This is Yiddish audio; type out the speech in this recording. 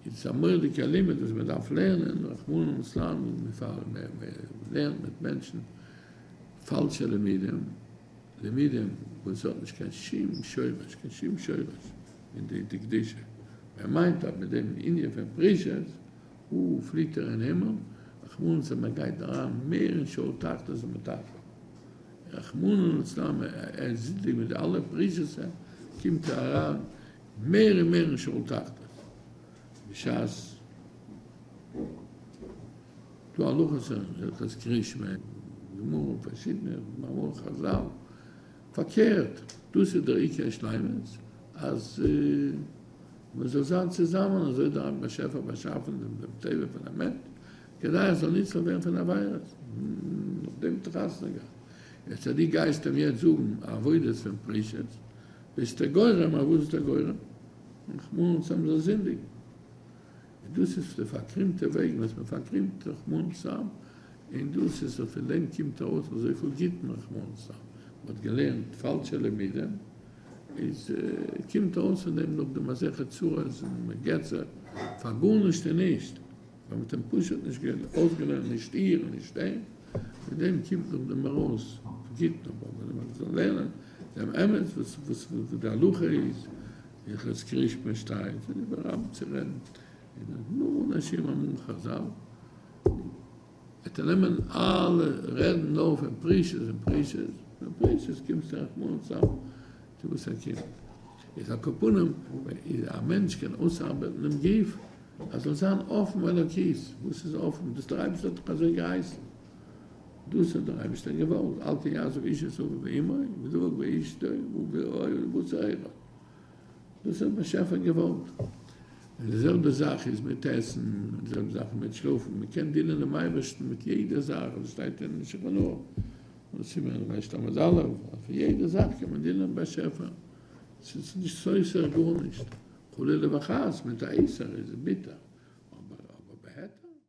איז עס א מורא'דיגע לימוד וואס מען דארף לערנען, רחמנא לצלן, מען לערנט מיט מענטשן פאלשע לימודים, לימודים וואס האט נישט קיין שום שורש, קיין שום שורש אין די די קדושה, ער מיינט אז מיט דעם ענין פון פרישות, הו פליט ער אין הימל, רחמנא לצלן ער גייט אריין מער אין שאול תחתית ומטפחת, רחמנא לצלן ער זינדיגט מיט די אלע פרישות, קומט ער אריין מער און מער אין שוהל תחתית בשעת טו הלכות הלכות קריאת שמע גמרא פרשיתמע מאמרי חזל פארקערט דאס איז דער עיקר שלימות אז מען זאל זיין צוזאמען אזוי דער רבי באשעפער באשאפען דעם דעם טבע פון א מענטש כדי ער זאל נצלה ווערן פון עבירות נאכדעם האט ער חתונה געהאט יעצט אז די גייסט אים יעצט זאגן עבודות פון פרישות ביסטו גורם, אויף וואס ביסטו גורם? רחמנות צו האבן זיי זינדיגן. און דאס איז די פארקרימטע וועג וואס מען פארקרימט רחמנות צו האבן, און דאס איז און פון דעם קומט ארויס אזויפיל גוטן רחמנות צו האבן. מען האט געלערנט פאלשע לימודים, איז קומט ארויס פון דעם נאך די מסכת צרות און געצער פאר גארנישט און נישט. מען האט אים פשוט נישט געלאזט אויסגעלערנט נישט איר און נישט ער, מיט דעם קומט נאך די מראות פגיט נאך וואס מען וועט זאל לערנען דעם אמת וואס וואס וואס די הלכה איז און חזקי ריש פ שטייט און איבער רב צו רעדן און אז נאר אנשים אמרו חזל וועט ער נעמען אלע רעדן נאר פון פרישות און פרישות און פרישות קומסטו רחמנא צלן צו וואס ער קומט איז א קאפ אן אים איז א מענטש קען אויסארבעטן דעם גוף. אז זאל זיין אפן אלוקית, וואס איז אפן? דאס דער אייבערשטער האט דאך אזוי געהייסן, דאס האט דער אייבערשטער געוואלט, אל תהיה עזוב איש את אביו ואמו ודבק באשתו ובאוהל ולבוש אוהלה, דאס האט באשעפער געוואלט, און די זעלבע זאך איז מיט עסן, און די זעלבע זאך איז מיט שלאפן, מען קען דינען דעם אייבערשטן מיט יעדער זאך, ווי עס שטייט אין שולחן ערוך, סימן רעטמז א', אז פון יעדער זאך קען מען דינען דעם באשעפער, עס איז נישט חסר גארנישט. חלילה וחס מיט א איסר איז ביטער אבער בהיתר.